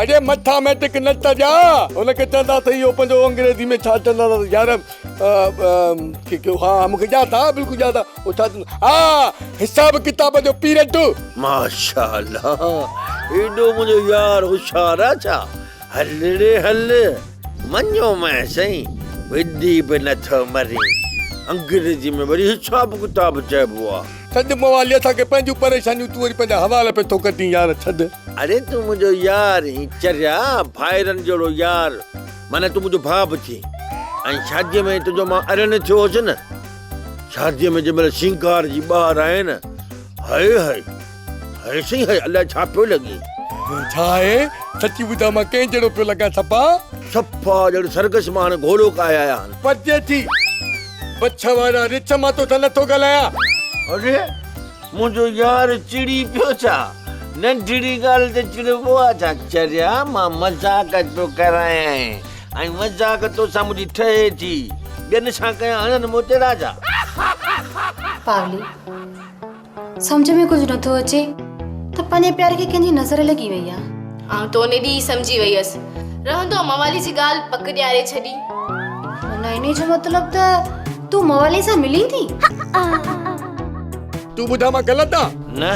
اڙي مٿاميٽڪ نه ته ڄاء هن کي چوندا ته اهو پنهنجو انگريزي ۾ ڇا چوندا ته يار ها مون کي ڄاء ٿا بلڪل ڄاء ٿا هو ڇا چوندا ها حساب ڪتاب جو پيرڊ. ماشاء الله ايڏو منهنجو يار هوشيار آ ڇا هل ڙي هل مڃيو مئي سائين ويندي به نه ٿو مرين انگريزي ۾ وري حساب ڪتاب چئبو آ. ڇڏ موالي اسان کي پنهنجون پريشانيون تون وري پنهنجا حوال پئي ٿو ڪڍين يار ڇڏ. اڙي تون منهنجو يار هين چريا ڀائرن جهڙو يار معنيٰ تون منهنجو ڀاء به ٿين ۽ شادي ۾ تنهنجو مان اڙيڻ ٿيو هوس نه شادي ۾ جنهن مهل سينگار جي ٻاهر آئي نه هاي هاي هاي سائين هاي الائي ڇا پيو لڳين. ڇا آهي سچي ٻڌاء مان ڪنهن جهڙو پيو لڳان سپا. سپا ڄڻ سرگس مان هاڻي گهوڙو ڪاهي آيا هن. پچي ٿي. بڇ وارا رڇ مان توسان نٿو ڳالهايان. اڙي منهنجو يار چڙي پيو ڇا؟ ننڍڙي ڳالهه تي چڙبو آ ڇا؟ چريا مان مذاق پيو ڪرايانء ۽ مذاق توسان منهنجي ٺهي ٿي. ٻين سان ڪيان هڻن موتيڙا جا. پاولي، سمجهه ۾ ڪجهه نه ٿو اچي ته پنهنجي پياري کي ڪنهن جي نظر لڳي وئي آهي. آئون ته ان ڏينهن ئي سمجهي وئي هيس. رهندو موالي جي ڳالهه پڪ ڏياري ڇڏي. معنيٰ انهيء جو مطلب ته تون موالي سان ملين ٿي؟ تون ٻڌاء مان غلط آهان؟ نه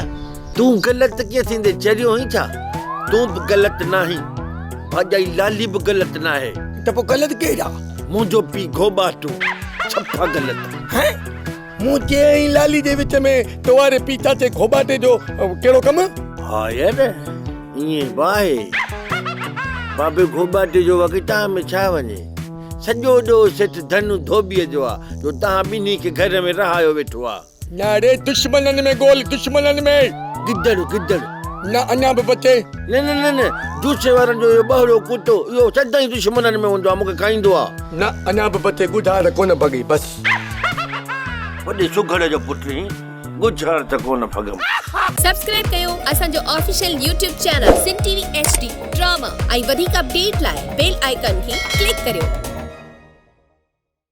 تون غلط ڪيئن ٿيندين چريو هئين ڇا؟ تون به غلط ناهين. ڀاڄائي لالي به غلط ناهي. ته پوء غلط ڪير آهي؟ منهنجو پيء گهوٻاٽو ڇپا غلط. هينئن؟ مون چيئي ۽ لالي جي وچ ۾ تو واري پيچاچي گهوٻاٽي جو ڪهڙو ڪم؟ ها يار ائين به آهي. بابي گهوٻاٽي جو واقعي تان ۾ ڇا وڃي. سڄو ڏوهه سيٺ ڌن ڌوٻيء جو آ جو تان ٻنهي کي گهر ۾ رهايو ويٺو آ. نه اڙي دشمنن ۾ ڳول دشمنن ۾. گدڙ گدڙ. نه اڃا به بچي. نه نه نه نه جوسي وارن جو اهو ٻهرو ڪتو اهو سدائين دشمنن ۾ هوندو آ مون کي کائيندو آ. نه اڃا به بچي ڳوجهار ڪونه ڀڳي بس. وڏي سگهڙ جو پٽ هين ڳجهه هڻ ته ڪونه ڦڳم. سبسڪرائب ڪيو اسان جو official YouTube channel Sindh T V H D drama ۽ وڌيڪ اپڊيٽ لاء بيل آئيڪان کي ڪلڪ ڪريو.